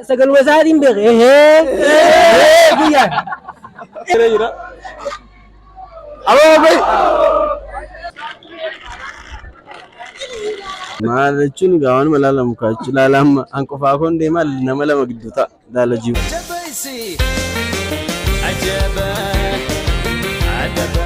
Sagaluma isaatiin beeke. Guyyaa. Jira jira. Aboo bai. Maal jechuun egaa waanuma ilaalamu kaa jechuun ilaala amma an qofaa koon deemaa nama lama gidduu ta'a ilaala jiru. Jabaisi Ajaba Adaba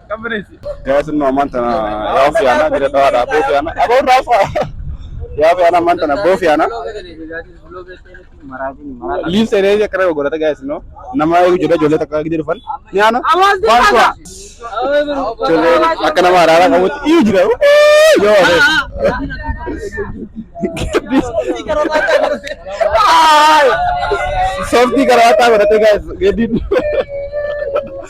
Yaa sinno ammaan tana yaa ofii aanaa jira dhawaa dhaa boofii aanaa aboo raafa yaa ofii aanaa ammaan tana boofii aanaa liif seenee akka nama godhata gaa sinno nama eegu jedha ijoollee takka gidee dhufan ni aana waan kuwa ijoollee akka nama araaraa qabutti iyyu jira yoo adeemu. Softii karaa ta'aa godhatee gaa geeddiin.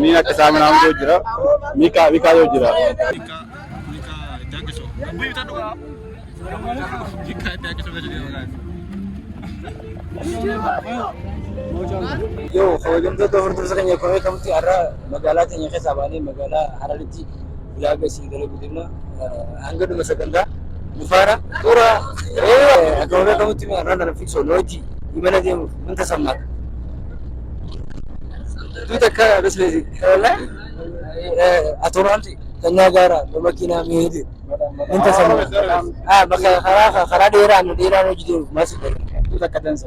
ni akka isaa mana hangoo jira mikaa mikaa yoo jira Yoo kabajamtoota hordoftoota keenya kun beekamti har'a magaalaa keenya keessaa baanee magaalaa Hararitti Ulaaga isin kana guddina hanga dhuma sagantaa nufaara xura akka warra kamutti irraa kana fiksoo looji imala deemuuf wanta sammaa tu takka bisnesi atoraanti tanyaa gaara makiinaa miidi wanta sammaa bakka karaa karaa dheeraa nu dheeraa hojii deemuuf maasii tu takka dansa.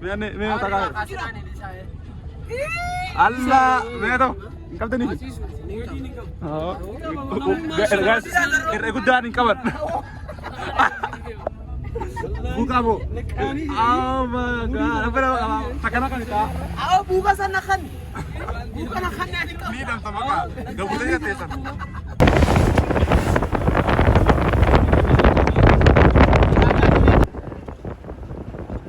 Mee mee mee takaa. Allah mee too. Hin qabdanii. Gaas irra guddaan hin qaban. Buukaa boo. Oh my god. Abba nama qaba. Takana kan isaa. Awo buuka sana kan. Buuka na kan nani kan. Ni damta maka. Gabutee nyaatee sana.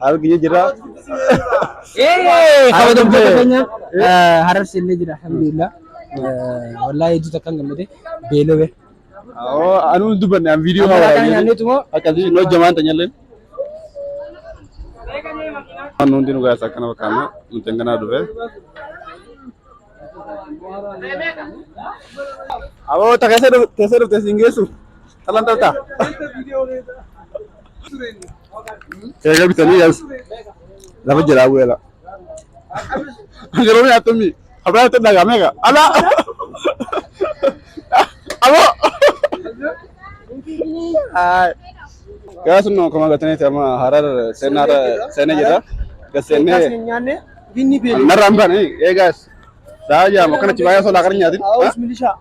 Haala kiyya jira. Eeyyee kabajamtoota keenya harar seennee jira alhamdulillah. Wallaahi hedduu takkaan gammade beelove. Oo anuu hin dubbanne an viidiyoo haa Ammalaa kana waraabee. nyaanneetu moo Akkasii hin hojjamaan tanyalleen. Waan hundi nu gaasa akkana fakkaanna nuti hanganaa dhufe. Aboo ta keessa dhufte siin geessu talan talta. Eega bitanii yaas lafa jalaa bu'ee la. Yeroo nyaattummi abraa itti dhagaa meeqa? Alaa! Aboo! Gaas nu akkuma gataniiti amma harar seenaa seenee jira. Gas seenee nyaanne binni beelama. narraan baane eegaas. Daa jaama akkanatti baay'ee solaa kan nyaatin. Haawus milishaa.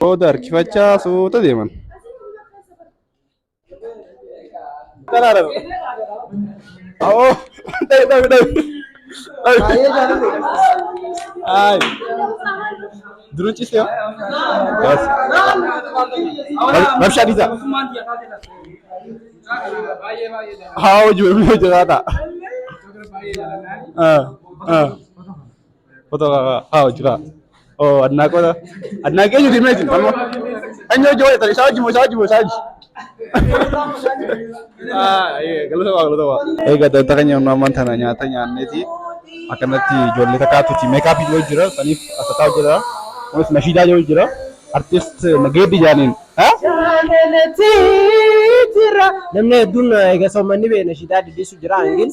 Booda harkifachaa suuta deeman. Daraara. Oo, dhabi dhabi dhabi. Ay. Durun ciste yoo. Bas. Rabshaa dhiisaa. Haa hojii hojii hojjetaa ta'a. Ah, ah. Foto haa jira. Oo adnaa qoda. Adnaa kee jiru meetin amma. Anyo hojii wayita isaa hojii moo isaa hojii moo isaa hojii. Galata waa galata waa. Egaa danta keenya humna ammaan tana nyaata nyaanneeti. Akkanatti ijoollee takkaatu itti meekaappii yoo jira saniif asataa jira. Kunis nashiidaa yoo jira. Artist Nageeddi Jaaniin. Namni hedduun egaa soommanni bee nashiidaa diddiisu jira hangin.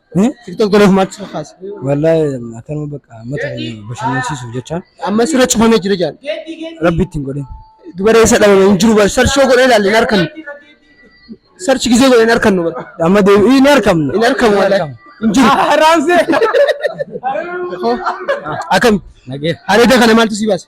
TikTok godhuuf maal si kakaase? Wallaahi akkanuma bakka uummata keenya bashannansiisuuf jecha Amma sirra cufamee jira jaan. rabbi ittiin godhin. Dubaree isa dhabame hin jiru bar. Sarchoo godhee ilaalle hin arkannu. Sarchi gisee godhee hin arkannu bar. Amma deebi'ii hin arkamne. Hin arkamu wallaahi. Hin jiru. Raamsee. Akkam? Nagee. Areeda kana maaltu si baase?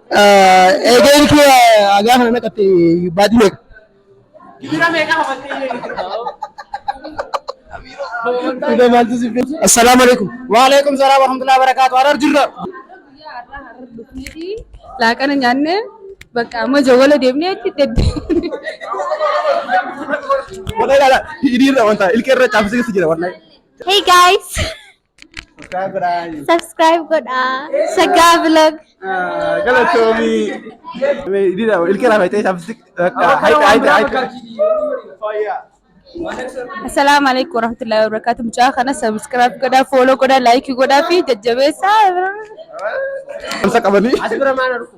Eegeen kee hagaa kana naqatte baatii meeqa? Dhugaa maaltu si fee? Assalaamu alaikum. Waalaikum salaam warahmatullahi wabarakatuh. Harar jirra. laaqana nyaanne bakka amma jawwala deemnee itti dedde. Wallahi laala hidhiirra wanta ilkee irra caafsee jira wallahi. Hey guys! Subscribe godhaa. Subscribe godhaa. Saggaa vlog. Galatoomi. Dida ilkee lafa ta'e saabsi. Haita haita haita. Assalaamu alaikum warahmatullahi wabarakatuh. Mucaa kana subscribe godhaa, follow godhaa, like godhaa fi jajjabeessaa. Amsa qabanii. As bira maal argu?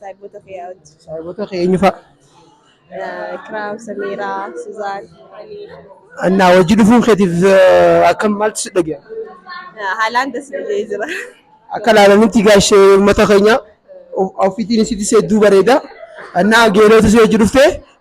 Saayibota kee yaa wajji. Saayibota kee eenyu fa'a? Kiraam, Samiiraa, Suzaan. Annaa wajji dhufuun keetiif akkam maaltu si dhaga'e? Haalaan das jedhee jira. Akka laalanitti gaashee uummata keenya ofiitiin isitti seedduu bareeda. Annaa geelootu si wajji dhuftee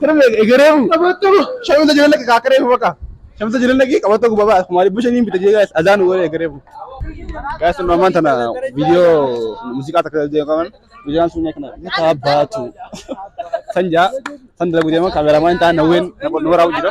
Kana egeree mu. Qabattu. Shamisa jireenya kee kaakkaree mu bakka. Shamisa jireenya kee qabattu gubbaa ba'a. Kumaali bushe niin bita jee gaa'is azaan waree egeree mu. Gaa'is nu ammaan tana viidiyoo muuziqaa takka deemu qaban viidiyoon sun kana ni taabbaatu. San jaa san dalagu deema kaameramaan ta'an hawween nu waraabuu jira.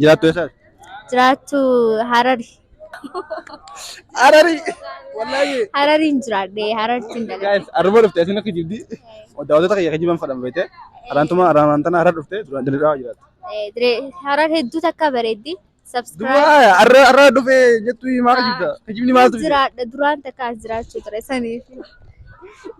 Jiraattu eessaati? Jiraattu Harari. Harari! Wallaahi! Harariin jiraadhe Harariin dalage. Guys, arraba dhufte asiin akka jibdi. Daawwattoota kiyya akka jiban fadhan beekte. Haraantuma haraan tana harar dhufte duraan diriiraa jiraatti. Harar hedduu takka bareeddi. Subscribe. Duwwaa arra arra dhufee jettu maal jibda? Kijibni maaltu fide? Jiraadha duraan takka as jiraachuu ture saniif.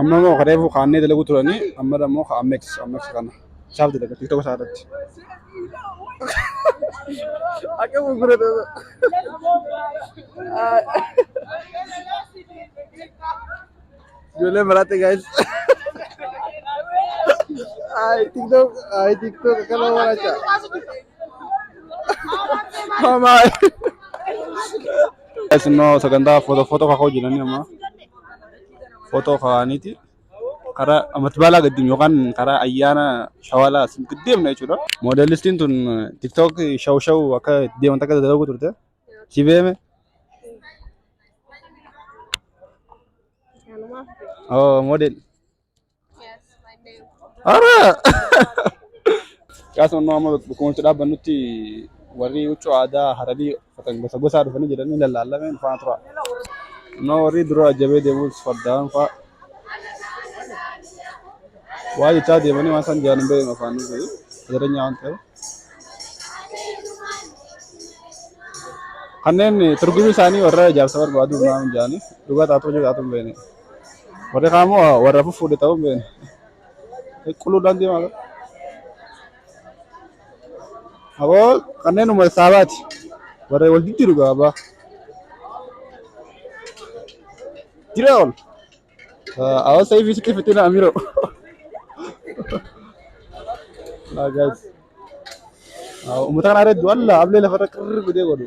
Amma immoo kan reefu kaannee dalaguu turanii amma immoo kan ammex ammex kana isaaf dalaga tiktoka isaa irratti. Akka gurgurata. Ijoollee maraatti gaa'is. Ay tiktok ay tiktok akkana waan acha. Hamaa. Isinoo sagantaa footoo footoo kakoo jiranii amma footoo kaaniiti karaa amatti baalaa gaddiin yookaan karaa ayyaana shawalaa isin gaddeemna jechuudha. Moodelistiin tun tiktook shaw shaw akka itti deeman takka dalaguu turte. Si beeme? Kanumaaf ta'e. Oo moodel. Ara! Caasa onnoo amma bakkuma itti dhaabbannutti warri huccuu aadaa hararii uffatan gosa gosaa dhufanii jedhanii lallaallamee nu faana tura. Onnoo warri dura jabee deemuus fardaan fa'a waa jechaa deemanii waan isaan jedhan hin beeknu afaan nu ta'e jireenya waan ta'eef. Kanneen turgumii isaanii warra ijaarsa barbaadu naan jedhanii dhugaa taatoo jiru taatoo hin beekne. Warri kaan immoo warra fuffuudhe ta'uu hin beekne. Qulqulludhaan deemaa jira. Aboo kanneen uummata saabaati. Warra wal jijjiiru gaa abbaa. Jira ol. Aboo sa'iifii sitti fitina amiroo. Uummata kana irra du'an laa ablee lafarra qirri godhee godhu.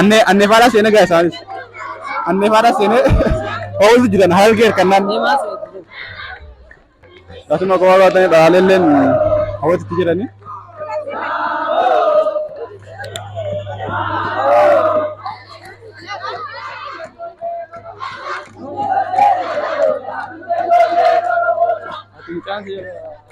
Annee annee faadhaa seenee gaa isaanis. Annee faadhaa seenee oolu jiran harargee hirkannaan. Akkasuma kophaa baatanii dhaalelleen hawwatitti jiranii. Mucaan seera.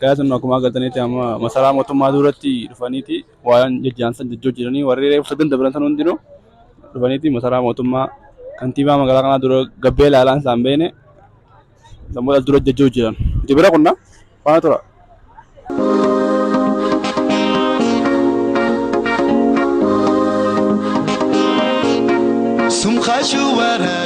Gaazexaan akkuma agartanitti amma masaraa mootummaa duratti dhufaniiti waan jajjaansan jajjoo jiranii warri reeffa ganda biran san hundinuu dhufaniiti masaraa mootummaa kantiibaa magaalaa kanaa dura gabbee laalaan isaan beene sammuu as dura jajjoo jiran. Jibira kunna faana tura. Sumkashu wara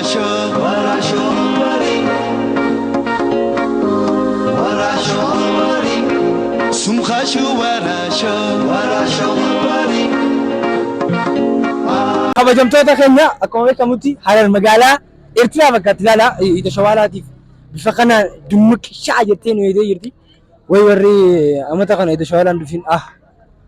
Kabajamtoota keenya akkuma beekamutti Harar magaalaa Eertiraa fakkaatti ilaala. Ija shawaalaatiif bifa kana dummuq sha'a jettee nu eegdee jirti. Way warri amata kana ija shawaalaan dhufin ah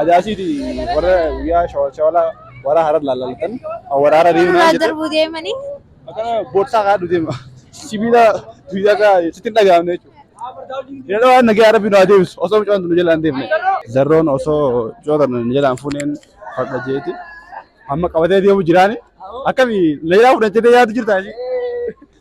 Ajaasiiti warra guyyaa shawalshawala warra harar laallalatan warra harar deemnaa Irraa jedhe darbuu deemanii akkana bootsaa kaadhu deema. Sibiila guyyaa kaa sitti hin dhagahamne jechuudha. Yeroo waan nagaa rabbi nu haa deebisu osoo mucaan nu jalaan deemne. Darroon osoo coota nu jalaan fuuneen fadha jeeti. Amma qabatee deemu jiraani. Akkami na jalaa fudhan jedhee yaadu jirtaa ishee.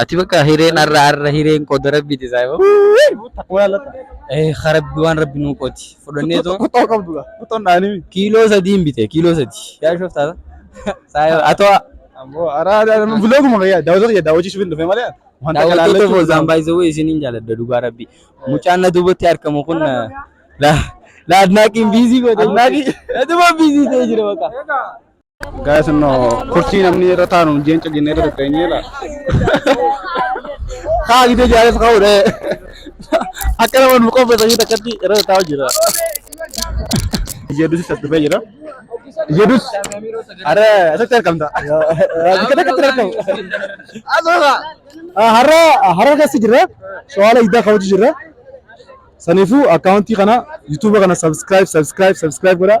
Ati bakka hireen har'a har'a hireen koo darabbiiti isaa yoo. Takkumaa laata? Eh harabbi waan rabbi nuu qooti. Fudhannee too Kuttoo qabdu gaa. Kuttoon dhaanii. kiiloo sadii hin bite kiiloo sadii. Yaa shoftaata. Saa yoo atoo Ammoo araa bilooguma fayyaa daawwatoo kiyya daawwachiisuuf hin dhufe malee. Wanta daawwattoota kalaalachuu foozaan baay'isee wayii isiniin jaaladha dhugaa rabbi. Mucaan na duubatti argamu kun na na adnaaqiin biizii godhe. Adnaaqii. Na duuba biizii ta'ee jira bakka. Gaa'es innoo kurtii namni irra taanu jeenca jennee irra tatteenyee dha. Kaa gidee jaareef ka'uudha. Akka nama nu qopheessanii takkatti irra taa'u jira. Jedus isa dhufee jira. Jedus. Har'a asitti argamta. Bakka takkatti argamu. Asoosa. Har'a har'a keessa jira. Shawala iddaa kaawwachu jira. Saniifuu akkaawuntii kana yuutuuba kana subscribe subscribe subscribe godhaa.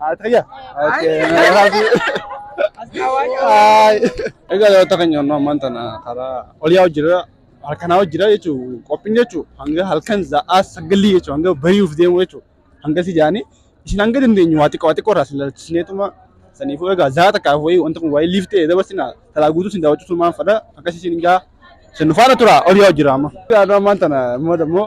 Ataya. Egaa daawwata keenya onnoo ammaan tana karaa oliyaa hojjira halkanaa hojjira jechuun qophiin jechuun hanga halkan za'aa sagalii jechuun hanga bari'uuf deemu jechuun hanga si jaanii isin hanga dandeenyu waa xiqqoo waa xiqqoo irraa silaalchisneetuma saniifuu egaa za'aa takkaaf wayii wanta kun waayee liif ta'e dabarsina talaa guutuu sin daawwachuutu maan fadha akkasii sin gaa sin faana tura oliyaa hojjira amma. Egaa ammaan tana immoo dammoo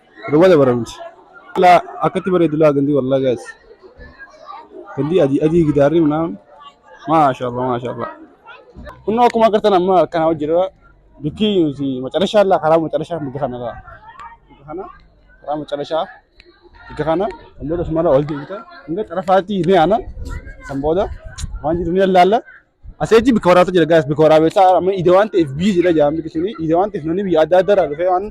Duba dabaramti. Laa akkatti bareedu laa gandi wallah guys. Gandi adii adii gidaarri minaan. Maashaallah maashaallah. Kunoo akkuma agartan amma kana hojjirra bikki nuti macarashaa laa karaa macarashaa bikka kana laa. Bikka kana karaa macarashaa bikka kana kan booda sumarra ol deebita. Hanga xarafaatti ni aana kan booda waan jiru ni laalla. Aseechi bika waraatu jira gaas bika waraabeessaa amma ide waan ta'eef biyyi jira jaamni kishini ide waan ta'eef namni biyya adda addaa irraa dhufee waan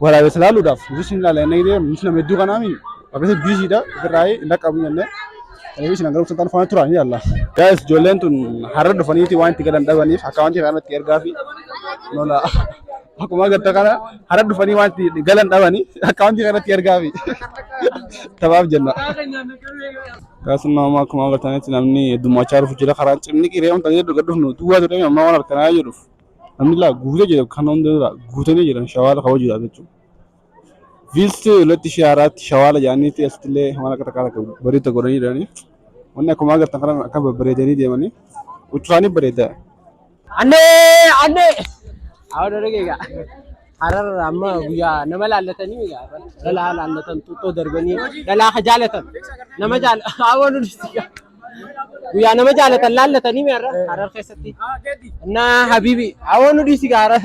waraabeessa laaluudhaaf nutis hin laala inni jedhee nutis nama hedduu kanaami akkasii biyyi jira ofirraa hin dhaqqabu jennee kanaaf isin hanga dhuftan faana turaan ilaalla. Gaas ijoolleen tun har'a dhufaniiti waan itti galan dhabaniif akka waan ta'e kanatti ergaa fi nola. Akkuma agarta kana hara dhufanii waan itti galan dhabanii akkaawuntii kanatti ergaafi. Tabaaf jenna. Akkasuma amma akkuma agartanitti namni heddummachaa dhufu jira karaan cimni qiree wanta jedhu gad dhufnu duwwaa jedhame amma waan harkanaa jedhuuf namni laa guutee jira kan hunda dura guutanii jiran shawaala ka'uu jira jechuudha. Viisti latti ishee haaraatti shawaala jedhaniitti asitti illee waan akka takkaa takka bareedda godhanii jiranii. Wanni akkuma agartan kana akka babbareedanii deemanii uccusaanii bareedda. Annee annee hawa dargee egaa hararra amma guyyaa nama laallatanii egaa dhalaa laallatan xuxxoo darbanii dhalaa ka jaalatan nama jaal hawa nu dhisti guyyaa nama jaalatan laallatanii meerra harar keessatti annaa habiibi hawa nu dhisti egaa harar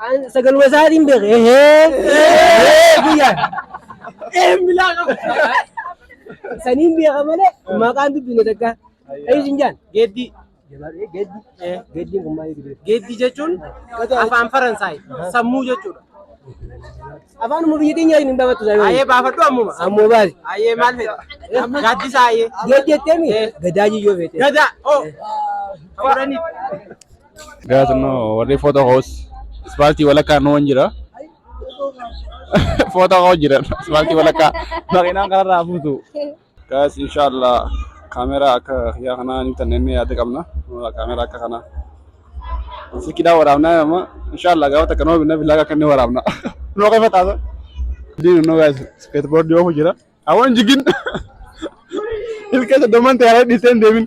An sagaluma isaatiin beeke. Ehee! Biyya. Een bilaa qaba. Saniin beeka malee maqaan dubbine takka. Eeyyuu sin jaan. Geeddii. Geeddi. Geeddiin kun maal jedhu? Geeddii jechuun afaan Faransaay sammuu jechuudha. Afaanuma biyya keenya hin baafatu isaa Ayee baafadhu ammuma. Ammoo baasi. Ayee maal fedha? Gaaddisa ayee. Geeddi jetteemi? Gadaa jiyyoo beekte. Gadaa. Oh. Fudhanii. Galatno warri foto hoos ispaaltii walakkaa nu hin jira. Foto hoo jira ispaaltii walakkaa makiinaan kanarraa fuutu. Gaas inshaallah kaameraa akka yaa kanaa ni tanne inni yaada qabna. Kaameraa akka kanaa. Sikidhaa waraabnaa amma inshaallah gaafa takka nama binna billaa akka inni waraabna. Noo keessa taasa. Diin noo gaas iskeetboordii oofu jira. Awwan jigin. Ilkeessa doman ta'e haa dhiisee hin deemin.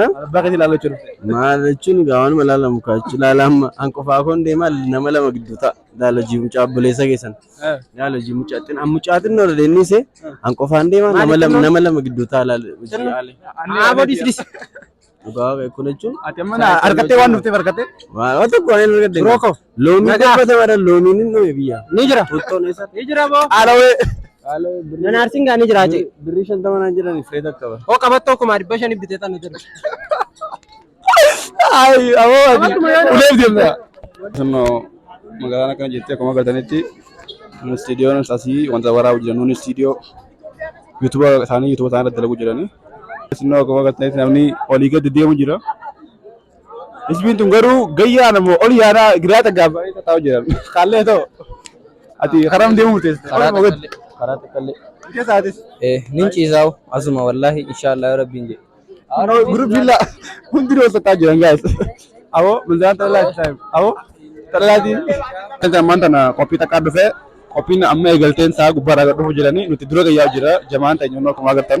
Eh? Abbaa keetii ilaaluu jechuudha. Maal jechuun egaa waanuma ilaalamu kaachu ilaala amma an qofaa koon deemaa nama lama gidduu ta'a. Ilaala hojii mucaa obboleessa keessan. Ilaala hojii mucaa xinna an mucaa xinna irra deemnise an qofaan deemaa nama lama nama lama gidduu ta'a ilaala hojii ilaale. Aaboo dhiisdis. Dhugaa kun jechuun Ati amma na argattee waan dhufteef argattee. waan tokko waan hin argadde. Biroo koo. Loomii Nagaa. dubbata madan loomiin hin dhume biyya. Ni jira. Bultoon eessa? Ni jira boo. Qaalawee. Qaalawee birrii. Nan aarsiin gaa ni jira jee. Birrii shantama naan jedhani firee takka ba. Hoo qabattoo kuma dhibba shanii bitee tan jira. Ayi aboo ati Qabattuma yoo uleef deemna. Sannoo magaalaan akkana jettee akkuma agartanitti istiidiyoon asii wanta waraabu jiran nuun istiidiyoo yuutuba isaanii yuutuba isaanii irratti dalaguu jirani. Sannoo akkuma agartanitti namni olii gadi deemu jira. Isbiin tun garuu gayyaa nama ol yaanaa giraa taggaa baay'ee tattaa'u jiran. Kaallee ta'u. Ati karaa deemuu murteessa. Karaa Oluma gad. takkallee. Karaa takkallee. Ija isaatis. Eh, nin ciisaa'u. Asuma wallaahi inshaallah rabbiin jedhe. No, group villa. Hundi wal tattaa'u jiran guys. Aboo manzaan xalalaati taa'e. Aboo xalalaati. Kan ammaan tana qophii takkaa dhufe qophiin amma eegalteen isaa gubbaarraa gad dhufu jiranii nuti dura gayyaa jira jamaan ta'e nyoonnoo akkuma agartan.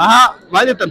Ahaa, maal jettan?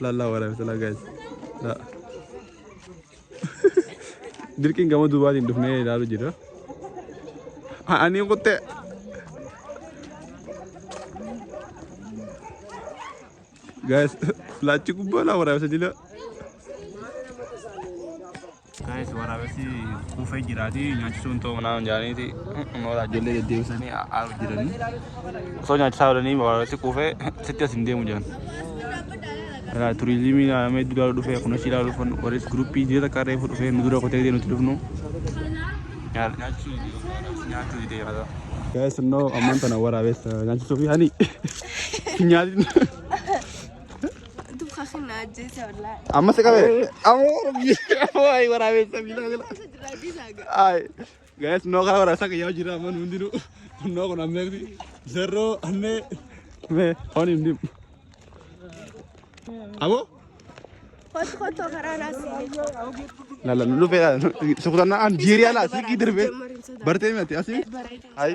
Lallaa waraabesala guys. Laa. Dirqiin gama duubaatiin dhufnee ilaalu jira. Ani kutte. Guys, laachi gubbaa laa waraabesa jila. Guys waraabessi kuufee jiraati nyaachisuun ta'uu manaa hin jaaniiti nooraa ijoollee deddeebisanii aaru jiranii osoo nyaachisaa oolanii waraabessi kuufee sitti as hin deemu jiran. Turizimii ilaalamee iddoo ilaaluu dhufee kun achi ilaaluu dhufan warris guruppii jireenya takka reefu dhufee nu dura kotee nuti dhufnu. Nyaachuu nyaachuu didee yaada. Guys innoo ammaan tana waraabessa nyaachisuu fi hani nyaatin. Amma si qabee. Amoo rabbi. Amoo ayi waraabessa miila miila. Ayi. Gaa'es noo kana waraabessa kan yaa'u jira amma nu hundinuu. Noo kun ammeeksi. Zerroo ammee. Mee foon hin dimu. Amoo. Lala nu dhufee lala. Sukutannaa an jiirii ala sikii darbee. Bartee miti asii. Ayi.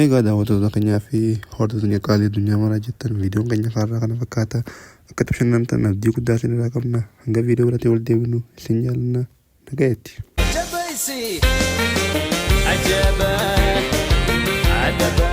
Egaa daawwattoota keenyaa fi hordoftoota keenya qaalii addunyaa maraa jettan viidiyoon keenya kaarraa kana fakkaata. Akka itti bashannantan abdii guddaa isin irraa qabna. Hanga viidiyoo biraatti wal deebinu isin jaalanna. Nagayetti. Jabaisi Ajaba Adaba